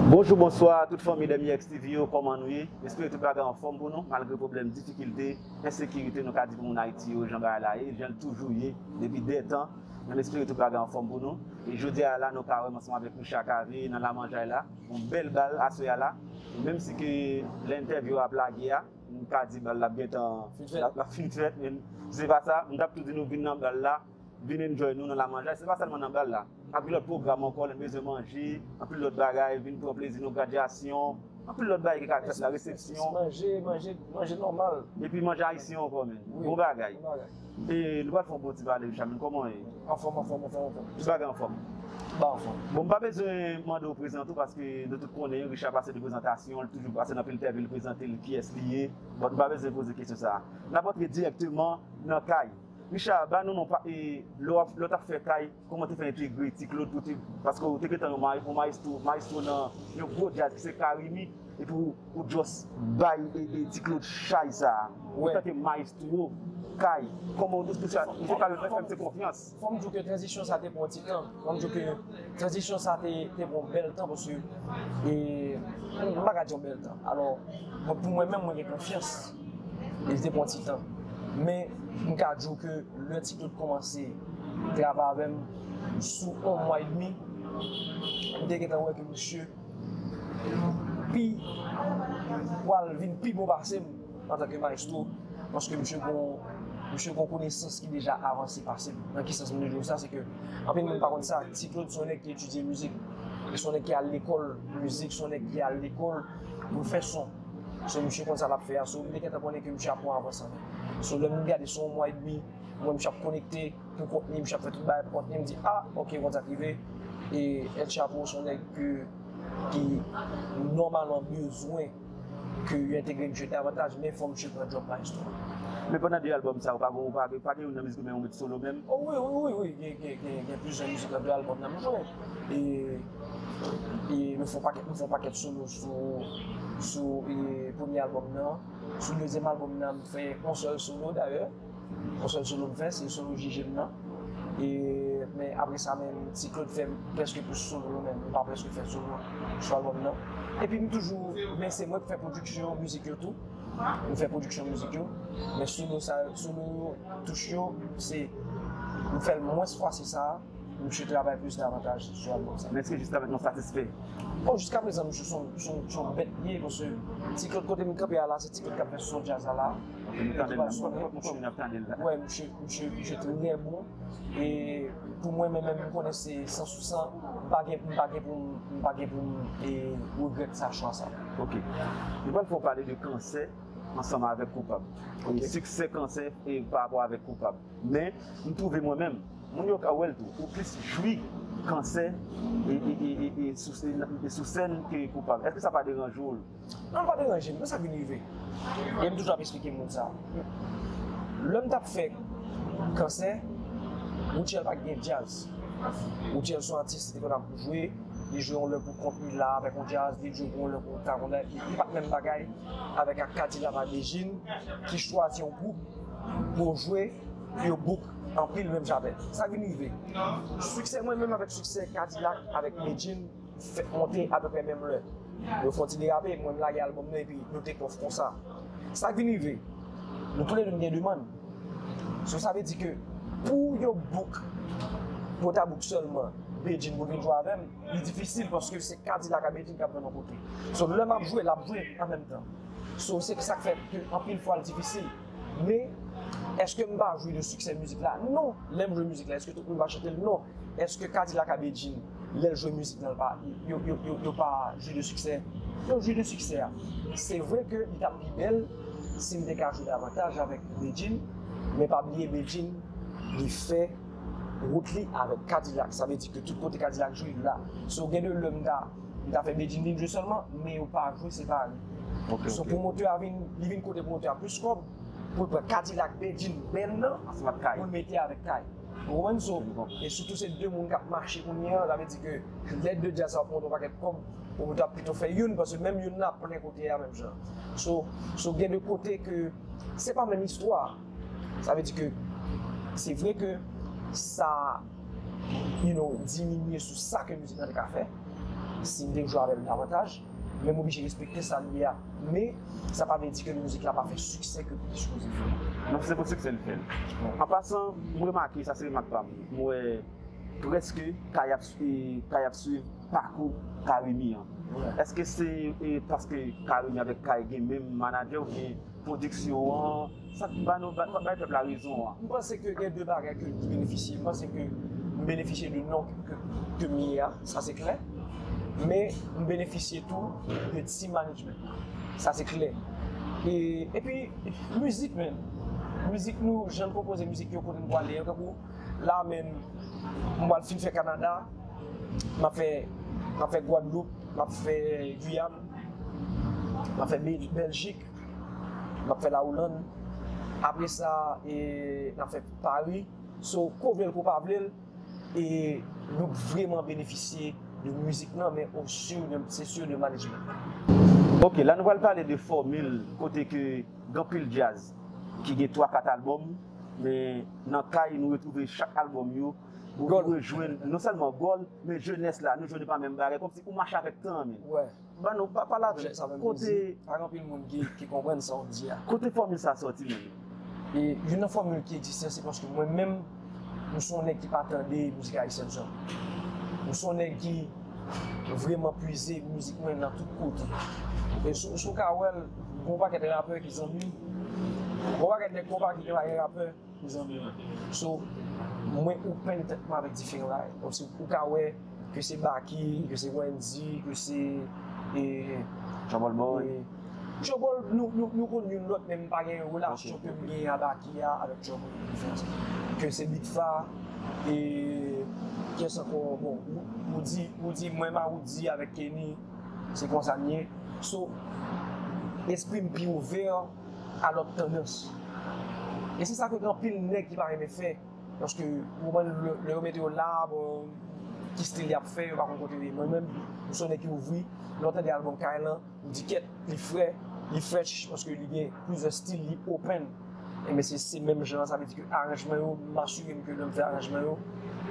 Bonjou bonswa tout fanmi Demyèx TV yo kòman nou ye espere tout bagay anfòm pou nou malgre pwoblèm difikilte ensekirite nou ka di pou moun ayiti yo jan bagay la ye janl t toujou ye depi dè tan menm espere tout bagay anfòm pou nou e jodia a la nou parèm ansanm avèk nou chakave nan lamanjay la yon bèl bal aswè a la menm si ke lè entèvyou a ap lage a nou ka di bal la ap gentan lap fin fèt menm se pa sa m tap tou di nou vin nan bal la. Vin enjoy nou nan lamanjay, se pa sèlman nan bal la. Ap gen lòt pwogram ankò, lè n bezwen manje, anpil lòt bagay, vin pran plezi nou, gradyasyon, anpil lòt bagay ki ka fèt la, resepsyon. Ti manje, manje, manje nòmal. Epi manje ayisyen ankò menn. Wi. Bon bagay. Bon bagay. E, nou pral fè yon bon ti pale wi Chami, kòman w ye? Anfòm, anfòm, anfòm, anfòm. Tout bagay anfòm? Tout bagay anfòm. Bon m pa bezwen mande w prezante w paske nou tout konnen Richard pase de prezantasyon, li toujou pase nan Pil-Tè vil prezante l kiyès li ye, bon nou pa bezwen poze kesyon sa a. N ap antre dirèkteman nan kay. Richard ba nou non pa e lè wap lè w tap fè kay kòman w te fè entegre ti Claude pou w te paske w te gentan yon ma yon maestro maestro nan yon gwo djaz ki se Carimi epi w ou just bay e e ti Claude chay sa antanke maestro kay kòman w te fè sa misye pa menm fè misye konfyans. Fòm di w ke tranzisyon sa te pran yon ti tan fòm di w ke tranzisyon sa te te pran yon bèl tan paske e m pa ka di yon bèl tan alò pou mwen menm mwen gen konfyans. e li te pran ti tan. Men, m ka di w ke lè Ti Do te kòmanse travay avè m, sou yon mwa edmi, m te gentan wè ke misye pi pral vin pi bon pase m antanke mayestwo, paske misye gen yon konesans ki deja avanse pase m. Nan ki sans m vle di w sa? Se ke anpil moun pa konn sa, Ti Klod se yon nèg ki etidye mizik, se yon nèg ki al lekòl mizik, se yon nèg ki al lekòl pou l fè son. So misye konn sa lap fè a so li te gentan konnen ke misye ap pran avans anlè. So lè moun gade se yon mwa edmi mwen misye ap konekte pou kontni misye ap fè tout bagay pou kontni mdi a ok konn sa k rive e El Chapo se yon nèg ke ki nòmalman bezwen ke yo entegre misye davantaj men fò misye pran djòb Maestro. Men pandan 2 album sa ou pa gon pa gen youn nan mizik ou menm ou met solo menm? O wi wi wi gen gen gen gen gen plizyè mizik nan 2 album nan m jwe e. E nou fè yon pakèt nou fè yon pakèt solo sou sou premye albòm nan. Sou dezyèm albòm nan m fè yon sèl solo dayè. Yon sèl solo m fè, se solo Jije m nan. E men apre sa menm Ti Claude fè prèske tout solo yo menm. Mwen pa prèske fè solo sou albòm nan. Epi m toujou, men se mwen ki fè pwodiksyon mizik yo tou. Mwen fè pwodiksyon mizik yo. Men solo sa yo, solo yo, touch yo, se mwen fè l mwens fwasi sa a. Misye travay plis davantaj zòn nan sa. Men eske jiska prezan nou satisfè? Bon jiska prezan misye son bèt li ye paske ti klod kote m kanpe a la se ti klod k ap fè son djaz la la. Ok nou tande l la, nou wè poukò moun ap tande l la. Wè misye, misye, misye trè bon e pou mwen menm menm m konnen se san sou san m pa gen, m pa gen pou m, m pa gen pou m e regrèt sa chwa sa. Ok. Nou pral fè w pale de kansè ansanm avèk koupab. Ok. Siksè kansè e pa rapò avèk koupab. Men, m twouve mwen menm, moun yo ka wè l tou, ou plis jwi kansè e sou sèn ke koupab. Èske sa pa deranje w? Non, l pa deranje m. Konn sa k vin rive? E m toujou ap esplike moun sa. Lè m t ap fè kansè, Rutshelle pa t gen djaz. Rutshelle se yon atis ki te konn ap jwe, li jwe yon lè pou kont li la avèk yon djaz, li jwe pou yon lè pou Caroline. Li pa t menm bagay avèk ak Kadila Madejine ki chwazi yon gwoup. Bon jwe pou yo book anpil menm jan avèm. Sa vin rive? Siksè mwen menm avèk siksè Kadilak avèk Medjine fèk monte apeprè menm lè. Yo fon ti derape, mwen m lage albòm nan epi nou take off konsa. Sa k vin rive? Nou toulède nou gen demann. So sa vle di ke pou yo book, pou yo ta book sèlman Bedjine pou l vin jwe avèm, li difisil paske se Kadilak ak Bedjine k ap jwenn yon kote. So lè m ap jwe, l ap jwe anmenmtan. So se sak fè ke anpil fwa l difisil. Men, eske m pa jwi de siksè mizik la? Non! Lè m jwe mizik la, eske tout moun pa chante l? Non! Eske Kadilak a Bedjine, lè l jwe mizik lan, yo pa jwi de siksè? Yo jwi de siksè. Se vre ke li t ap pi bèl si m te ka jwe davantaj avèk Bedjine, men pa bliye Bedjine li fè wout li avèk Kadilak. Sa vle di ke tout kote Kadilak jwe, li la. So gen de lè m ta. Li ka fè Bedjine vin jwe sèlman men yo pa jwe separe. So pwomotè a vin, li vin kote pwomotè a plis kòb pou l pran Kadilak, Bedjine, Band lan pou l mete avèk Kay. Ou konprann? So, e sitou se 2 moun k ap mache kounye an, sa vle di ke lè 2 djaz sa yo pwomotè yon pakèt kòb, pwomotè a ap pito fè youn paske menm youn nan ap plen kote a menm jan. So, so gen 2 kote ke se pa menm istwa. Sa vle di ke se vre ke sa. you know, diminye sou sa ke mizik lan te ka fè, si m te k jwe avè l davantaj, men m oblije respekte sa l ye a. Men, sa pa vle di ke mizik la pa fè siksè ke li te sipoze fè. Non, se pou siksè l fè l. An pasan, m remake, sa se remak pa m, m wè prèske Kay ap swiv pakou Carimi an. Eske se paske Carimi avèk Kay gen menm manadjè oubyen pwodiksyon an? Sa k ba nou, sa k bay pèp la rezon an? M panse ke gen 2 bagay ke ki benefisye. M panse ke m benefisye de non ke m ye a, sa se klè. Men m benefisye tou de ti management la. Sa se klè. E, epi mizik menm. Mizik nou, jan n konpoze mizik yo, kote n pwale yo. Tankou la menm, m pwal fin fè Kanada, m ap fè, m ap fè Gwadloup, m ap fè Guyane, m ap fè Beljik. Nap fè la Ouland apre sa nap fè Paris so ko vlel ko pa vlel e nou k vreman benefisye de mizik lan men o su de se su de management lan. Ok la nou pral pale de fòmil kote ke gen anpil djaz ki gen 3 4 album men nan kay nou retwouve chak album yo ou rejwenn non sèlman goal men jenès la nou jwenn e pa menm bagay kòmsi ou mache avèk tan an menm. Ba nou pa pale avèm sa menm kote pa gen anpil moun ki konprann sa wap di a. Kote fòmil sa sòti menm? E youn nan fòmil ki egziste se paske mwen menm m son nèg ki pa tande mizik ayisyèn sa. M son nèg ki vreman pwize mizik mwen nan tout kote. E si w ka wè l, gon pakèt rapè ki zanmi m, gon pakèt nèg konpa ki gen pa gen rapè. Mezanmi so mwen open tèt mwen avèk diferan bagay kom si ou ka wè ke se Baky ke se Wendy ke se Trouble Boy Trouble nou konn youn lòt men m pa gen relasyon ke m gen a Baky a avèk Trouble gen diferans ke se Big Fa e kyès ankò bon Roody Roody mwen menm a Roody avèk Kenny se konsa n ye so lespri m pi ouvè. Alòt tandans. E se sa ke gen anpil nèg ki pa renmen fè. Paske ou konprann lè yo mete yo la bon ki stil yap fè yo pa konn kote yo ye. Mwen menm m son nèg ki ouvri lè w tande album Kaï lan ou di kèt li fre li fresh paske li gen plizyè stil li open. Enben se se menm jan an sa vle di ke aranjman yo m asire m ke lè m fè aranjman yo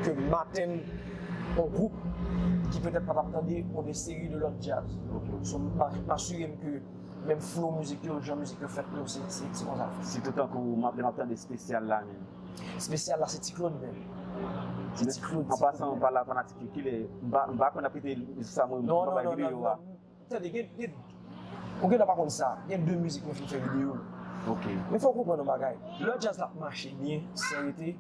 ke m atenn yon gwoup ki petèt pa tap tande yon de seri de lòt djaz. So m asire m ke. Menm flow mizik yo, jan mizik yo fèt yo se konsa l fèt. Sitou tankou lè m ap tande spesyal la menm. Spesyal la se ti Claude menm. Se ti Claude. An pasan mwen pale a fanatik yo kilè m pa konn y ap kite mizik sa mwen pa bay videyo a. Tande gen ou gentan pa konn sa gen 2 mizik mwen fin fè videyo. Ok. Men fò w konprann yon bagay lè djaz la ap mache byen san rete.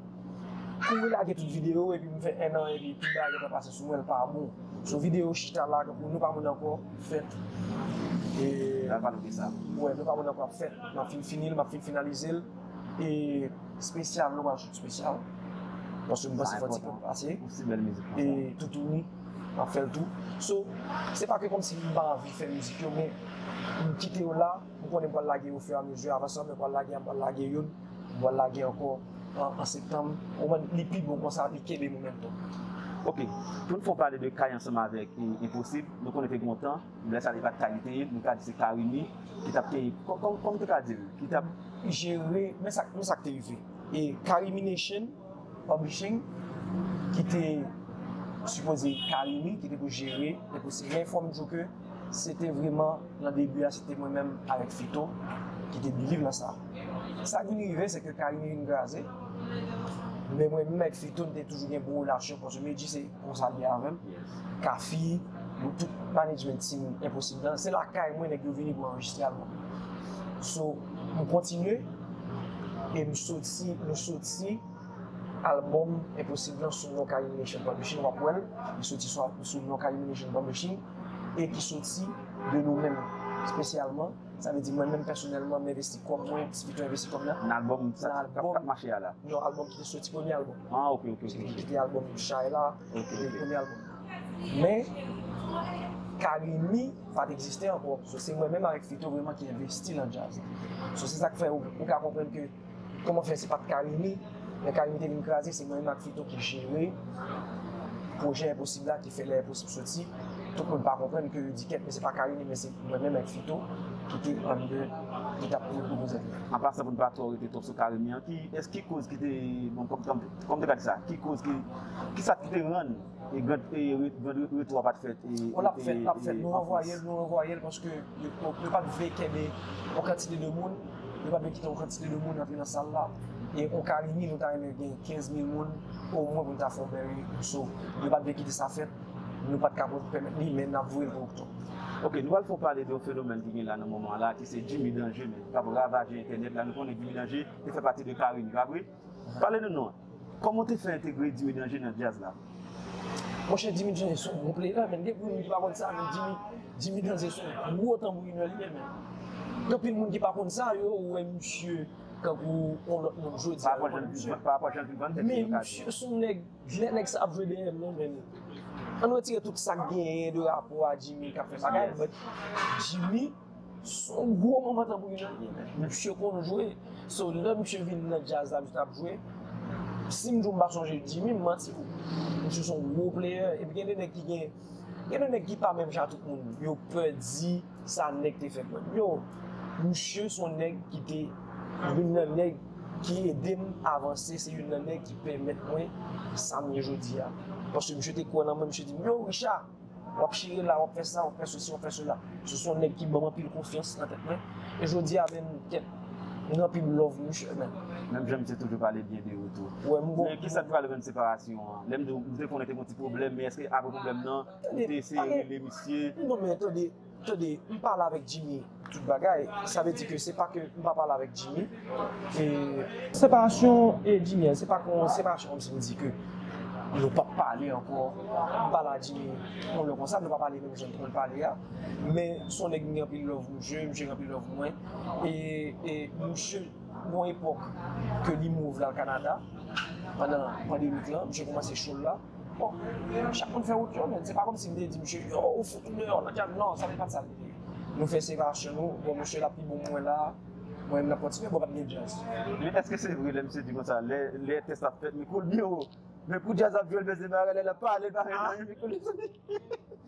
Kouri lage tout video epi m fè 1 an epi tout bagay gentan pase sou mwen l pa bon so video chita la tankou nou pa moun ankò fèt e nan pale de sa wè nou pa moun ankò ap fèt map fin fini l map fin finalize l e spesyal nou pral sot spesyal paske m panse fò ti pèp pase e toutouni map fè l tou so se pa ke kòmsi m pa anvi fè mizik yo men m kite yo la m konnen m pral lage yo o fur et à mesure avan sa mwen pral lage a m pral lage youn m pral lage ankò. An septanm ou wè li pi bon konsa li kenbe momentum. Ok poun fon pale de kay ansanm avèk enposib nou konnen te gen yon tan lè sa li pat kay li te ye nou ka di se carimi ki tap te kòman te ka dil ki tap jere men sa men sak te rive e carimi nation publishing ki te sipoze carimi ki te pou jere enposib men fòm diw ke. Se te vreman nan debi a se te mwen menm avèk Fito ki te biliv nan sa. Sa k vin rive se ke Carimi vin kraze, men mwen menm avèk Fito n te toujou gen bon relasyon paske Medjy se konsa l ye avè m, Kafi, nou tout management team Enposib lan, se lakay mwen nèg yo vini pou anrejistre album. So, m kontinye e m soti, nou soti. Album Impossible lan sou No Calumination Publishing wap wèl li soti sou No Calumination Publishing e ki soti de nou menm spesyalman sa vle di mwen menm pèsonèlman m'envesti kòb mwen ti pito envesti kòb nan album kap mache a la non album ki te soti premye album ah ok ok ok ki te album Chay la ok ok premye album men Carimi pat egziste ankò so se mwen menm avèk Fito vreman ki envesti nan djaz so se sak fè ou ka konprann ke Koman fè se pat Carimi, lè Carimi te vin kraze se mwen menm ak Fito ki jere pwojè enposib la ki fè lè enposib soti tout moun pa konprann ke yo di kèt men se pa Carimi men se mwen menm ak Fito ki te anndan ki tap pwodwi konsèt la. Apa sa pou n pa twò rete twòp sou Carimi an, ki koz ki te, bon kòm te ka di sa, ki koz ki, kisa ki te rann. E grand prye retou a pat fèt e. O lap fèt lap fèt nou ranvwayel nou ranvwayel paske yo pat vle kenbe yon kantite de moun yo pat vle kite yon kantite de moun rantre nan sal la e yon carimi nou ta renmen gen 15 mil moun o mwen pou nou ta fè yon bèl retou so yo pat vle kite sa fèt nou pat ka pèmèt li men nap voyel pou oktòb. Ok nou pral fon pale de yon fenomèn ki gen la nan moman an la ki se Jimmy Danger men kap ravaje entènèt la nou konnen Jimmy Danger te fè pati de carimi pa vre? Pale nou non, kòman ou te fè entegre Dimy Danje nan djaz la? Monchè Dimy Danje son bon playback menn, gen anpil moun ki pa konn sa men Dimy, Dimy Danje son gwo tanbourinè li ye menn. Gen anpil moun ki pa konn sa, yo wè misye tankou yon lòt moun jodi a. Pa rapò jan li, pa rapò jan li vann tèt li yo ka di. Men misye son nèg, lè nèg sa ap jwe dèyè l lan menn, ann retire tout sa k genyen de rapò a Dimy k ap fè bagay but Dimy. Son gwo moman tanbourin nan ye men. Misye konn jwe, so lè misye vin nan djaz la misye tap jwe. Sim diw mpa sonje Jimmy m mantiw. Misye son gwo pleyè epi gen de nèg ki gen gen de nèg ki pa menm jan a tout moun yo pè di sa nèg te fè pou yo. Yo, misye son nèg ki te youn nan nèg ki edem avanse, se youn nan nèg ki pèmèt mwen sam ye jodi a. Paske misye te kwè nan mwen misye dim yo Richard, Wap chire la, wap fè sa, wap fè sesi, wap fè sela. Misye se yon nèg ki banm anpil konfyans nan tèt mwen. E jodi a menm kèt m gen anpil love pou misye menm. Menm jan misye toujou pale byen de ou tou. Men kisa t pral rann separasyon an? Lèm di w, m te konnen te gon ti pwoblèm men eske apre pwoblèm nan ou te eseye rele misye? Non men tande. Tande, m pale avèk Jimmy tout bagay, sa vle di ke se pa ke m pa pale avèk Jimmy e. Separasyon e Jimmy an se pa ke yon separasyon kòmsi m di ke nou pap pale ankò, m pale a Jimmy yon lè konsa, nou pa pale menm jan nou konn pale a, men se yon nèg m gen anpil love pou msye, msye gen anpil love pou mwen e msye gon epòk ke li move l al Canada pandan pandemic lan, msye kòmanse show l la. Bon, chak moun fè wout yo, men se pa kòmsi m te di misye, yo, ou fout ou deyò, nan djab, non, sa te pa t sa l te di. Nou fè separasyon nou, bon, misye l ap pi bon mwen la, mwen menm m ap kontinye, bon pa t gen djaz. Men èske se vre lè misye di konsa, lè tès la ap fèt, mikwo l byen wo, men kou djaz ap jwe l, men se bagay lè l ap pale, l pa fè anyen, mikwo l desandi.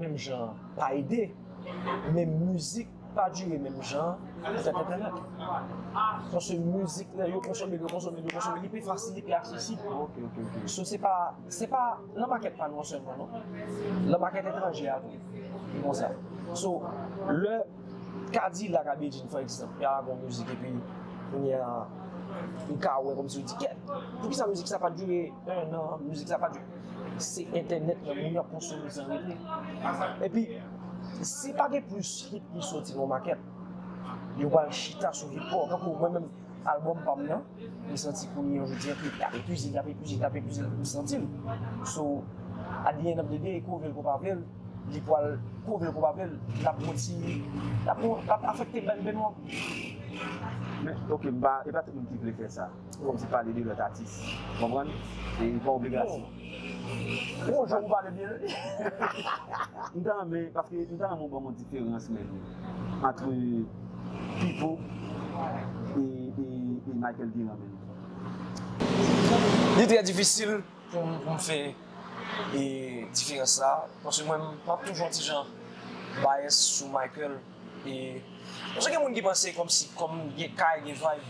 menm jan an pa ede men mizik pa dire menm jan an avèk entènèt paske mizik lè yo konsome l yo konsome l yo konsome l li pi fasil li pi aksesib so se pa se pa nan makèt pa nou an sèlman non nan makèt etranje a tou li konsa so lè kadilak a bedjine fò egzanp y a gon mizik epi kounye a ou ka wè kòmsi ou di kèt poukisa mizik sa pa dire 1 an mizik sa pa dire Se entènèt lan moun yo ap konsome san rete. Epi, si pa gen plis hit ki soti nan makèt, yo pral chita sou hit paw. Tankou mwen menm, album pa m nan, m santi kounye a jodi a ke ap epize li, ap epize li, ap epize li, m santi l. So, at the end of the day, ke w vle l ke w pa vle l, li pral, ke w vle l ke w pa vle l, l ap pran ti, l ap afekte band nou an. Men, ok, m pa, e pa tout moun ki vle fè sa. Kòm si pale de lòt atis. Ou konprann? E li pa obligasyon. Bon jan ou pale byen wi. M ta renmen, paske m ta renmen ou banm yon diferans menm antre Pipo e Michael Guérin menm. Li trè difisil pou m fè diferans sa, paske mwen menm m ap toujou yon ti jan bias sou Michael. E konsa gen moun ki panse kòmsi kòm gen kay gen vayb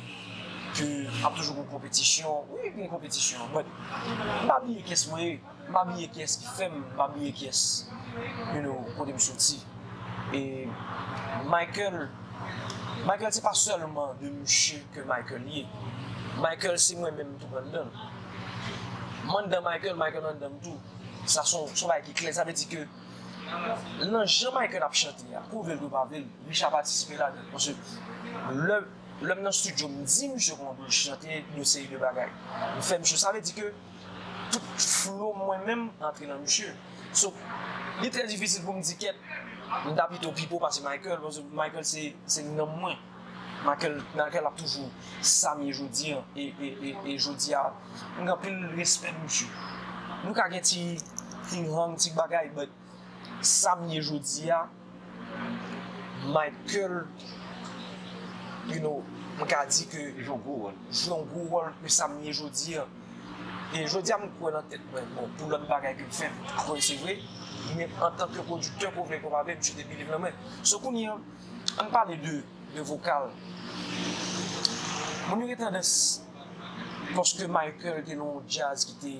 ke ap toujou gen konpetisyon, wi gen konpetisyon but m pa bliye kiyès mwen ye, m pa bliye kiyès ki fè m, m pa bliye kiyès you know kote m soti. E Michael, Michael se pa sèlman de mouche ke Michael ye, Michael se mwen menm tou anndan l. M anndan Michael, Michael anndan m tou. Sa son bagay ki klè, sa vle di ke. nan jan Michael ap chante a kou vlel kou pa vlel misye ap patisipe ladann paske lè lèm nan studio m di misye kòman pou l chante yon seri de bagay m fè misye sa vle di ke tout flo mwen menm antre nan misye so li trè difisil pou m di kèt m ta pito Pipo pase Michael paske Michael se nanm mwen. Nakel ap toujou Sam ye jodi an e jodi a m gen anpil respè pou misye nou ka gen ti ting hang ti bagay but Sam ye jodi a Michael you know m ka di ke jwe yon gwo wòl jwe yon gwo wòl ke Sam ye jodi a e jodi a m kwè nan tèt mwen bon pou lòt bagay ke m fè m pa kwè se vre men antanke pwodiktè ke w vle ke w pa vle misye te biliv nan mwen so kounye an. Ann pale de de vokal. Moun yo gen tandans paske Michael te nan yon jazz ki te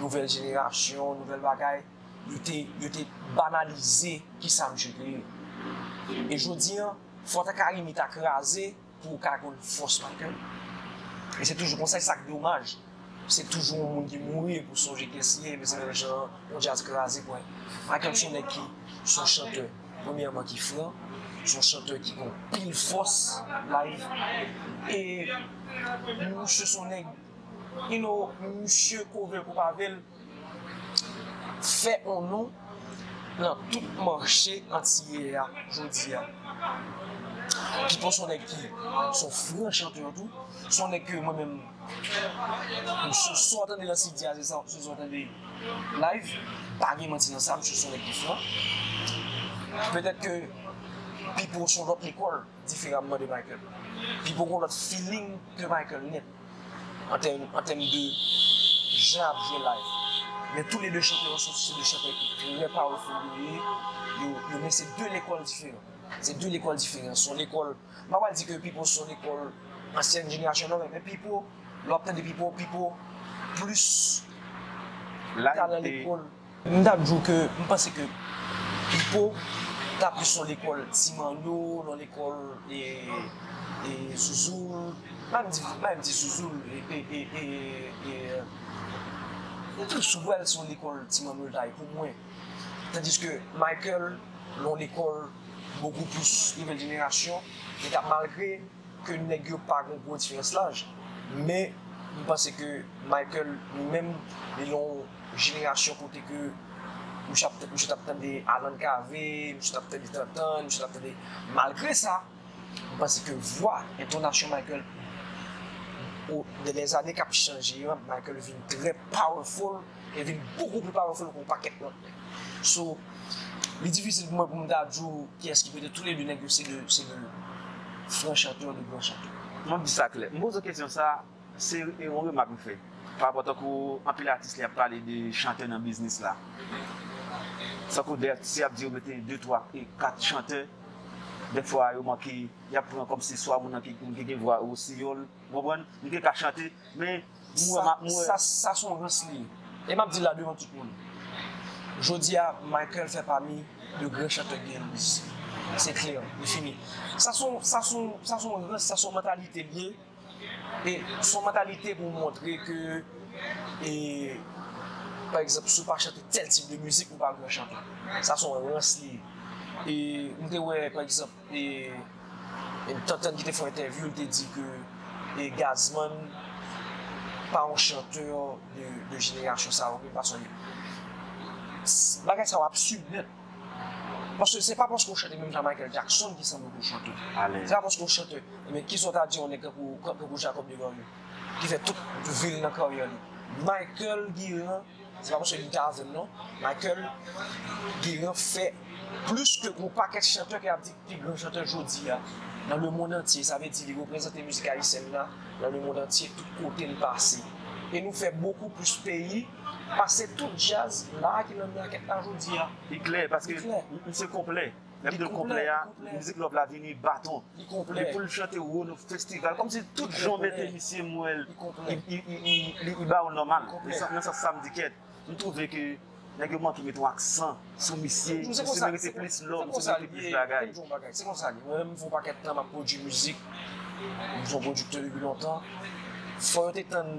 nouvèl jenerasyon, nouvèl bagay, yo te yo te banalize kisa misye te ye. E jodi an, fwa ta Carimi ta kraze. Pou ou ka konn fòs pa kè l. E se toujou konsa e sa k domaj se toujou yon moun ki mouri epi ou sonje kyès li ye epi se menm jan an yon djaz kraze pwen. Pakel son nèg ki son chantè premyèman ki fran, son chantè ki gen yon pil fòs live e misye son nèg you know misye kove kou pave l. fè on non nan tout mache antiyè a jodi a. Pipo son nèg ki son fre chanteur tou, son nèg ke mwen menm msye sa w tande nan CD a se sa w tande live, pa gen manti nan sa msye son nèg ki fran. Petèt ke Pipo son lòt lekòl diferamman de Michael. Pipo gon lòt feeling ke Michael nèt. an tèm de jan ap jwe live men tou le 2 chantè yo soti se 2 chantè ki trè powerful yo ye yo men se 2 lekòl diferan se 2 lekòl diferan son lekòl m pa pral di ke Pipo son lekòl ansyèn jenerasyon non men Pipo lè w ap tande Pipo Pipo plis talan lekòl. M tap di w ke m panse ke Pipo ta plis yon lekòl Ti Manno, yon lekòl Zouzoul, pa m di Zouzoul Pipo pral si yon lekòl Ti Manno l ta ye pou mwen. Tandiske Michael yon lekòl bokou plis nouvèl jenerasyon, li ta malgre ke nèg yo pa gen gwo diferans laj men m panse ke Michael li menm li yon jenerasyon kote ke misye ap tande misye tap tande Alan Cavé misye tap tande Tantan misye tap tande malgre sa m panse ke vwa entonasyon Michael o de lèzane kap chanje an Michael vin trè powerful. Li vin bokou pi pawaful ke yon pakèt lòt nèg. So, li difisil pou mwen pou m ta di w kiyès ki pete. Tou le 2 nèg yo se 2 se 2 fran chanpyon, 2 gran chanpyon. Mwen di sa klè. M poze w kesyon sa, se yon remak m fè. Pa rapò tankou anpil atis lè y ap pale de chantè nan biznis la. Tankou dè atis y ap di yo mete 2, 3 e 4 chantè, dè fwa yo manke y ap pran kòmsi swa moun nan ki gen vwa rosiyòl, ou konprann? Li te ka chante, men. M wè, m wè. Sa s on rans li ye. E m ap di l la devan tout moun. Jodi a, Michael fè pami de gran chantè k genyen Louis. Se klè, li fini. Sa s on, sa s on, sa s on rans, sa s on mantalite l ye. E s on mantalite pou montre ke, e, pa egzanp, si w pa chante tèl tip de mizik, ou pa gran chantè. Sa s on rans li ye. E m te wè, pa egzanp. E Tantan ki te fè yon entèvyou li te di ke e Gazzman pa yon chanteur de jenerasyon sa yo menm paske bagay sa yo absurd nèt paske se pa paske ou chante menm jan Michael Jackson ki sanble pou chante alèz se pa paske ou chante men kisa ou ta di yon nèg tankou Jacob Desvarieux ki fè tout vil nan karyè li Michael Guérin Se pa paske li ta avèm non, Michael Guérin fè plis ke yon pakèt chantè ke yap di ki pi gran chantè jodia nan le mond antye, sa vle di li reprezante mizik ayisyèn la nan le mond antye tout kote li pase. E nou fè bokou plis peyi pase tout djaz la ki nan makèt la jodia. Li klè paske misye konplè. Video konplè a, mizik love la vini baton li poul chante wo nou festival kòm si tout jan w mete misye m wèl li ba ou nòmal nan sans sa m di kèt m twouve ke nèg yo manke met yon aksan sou misye misye merite plis love misye merite plis bagay. Se konsa li ye, mwen menm m fè yon pakèt tan m ap pwodui mizik, m se yon pwodiktè depi lontan, fò yo te tann.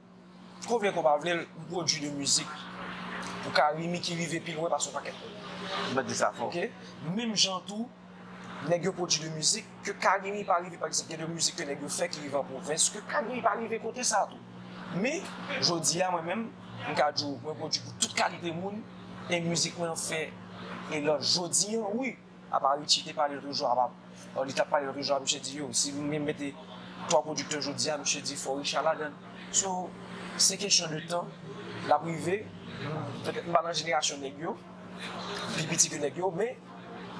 Ko vle ko pa vle l m pwodwi de mizik pou Carimi ki rive pi lwen pase yon pakèt moun. M pa t di sa fo. Ok. Menm jan tou, nèg yo pwodwi de mizik ke Carimi pa rive. Pa egzanp, gen de mizik ke nèg yo fè ki rive an pwovens ke Carimi pa rive kote sa tou. Men, jodi a mwen menm, m ka di w mwen pwodwi pou tout kalite moun e mizik mwen an fè elòj jodi an wi. Apa Richie te pale yo toujou apa or li tap pale yo toujou a misye di yo si nou gen mete 3 producteur jodi a misye di fò Richard ladann so se kesyon de tan lap rive petèt m pa nan jenerasyon nèg yo m pi piti ke nèg yo men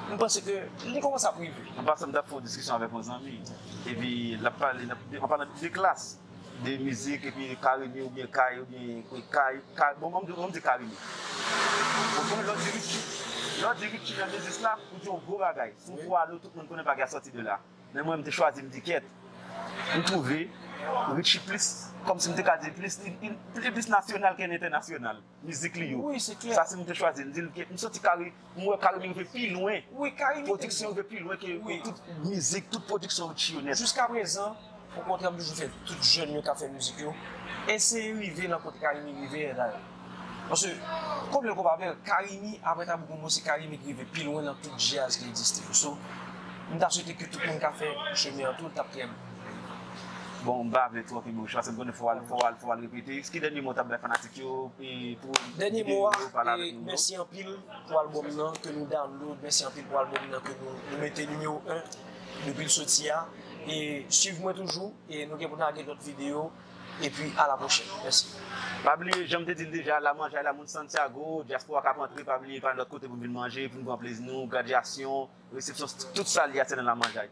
m panse ke li komanse ap rive. An pasan m tap fè yon diskisyon avèk yon zanmi epi lap pale anpalan de klas. 2 mizik epi carimi oubyen kay oubyen kay kay bon banm banm di carimi ok lò di richie lò di richie nan biznis la ou di yon gwo bagay si w fò a lo tout moun konnen bagay a sòti de la men mwen m te chwazi m di kyèt m twouve richie plis kòmsi m te ka di plis li plis nasyonal ke entènasyonal. Mizik li yo. Sa si m te chwazi l di l ke m santi kare m wè karimi rive pi lwen. Pwodiksyon rive pi lwen ke tout mizik, tout pwodiksyon yo chill nèt. Jiska prezan, o kontrè m toujou fè tout jèn yo k ap fè mizik yo, eseye rive nan kote karimi rive a la. Paske konbyen konpa avè l, karimi aprè tabou gumbo se karimi ki rive pi lwen nan tout djaz ki egziste yo. So, m ta swete ke tout moun ka fè chemen an tou l t ap trè byen. Bon, m pa vle twò fè bouch la, paske m konnen fò w al repete. Ki dènye mo w t ap bay fanatik yo? Dènye mo a, mèsi anpil pou albòm nan ke nou download, mèsi anpil pou albòm nan ke nou mete nimewo 1 depi l soti a, e swiv mwen toujou e nou gen pou lage lòt videyo epi a la pwochèn. Mèsi. Pa bliye janm te dil deja la manjay la moun Santiago, diaspora kap antre pa bliye pa al lòt kote pou vin manje, pou nou pran plezi nou, gradyasyon, resepsyon tout sa li a se nan la manjay.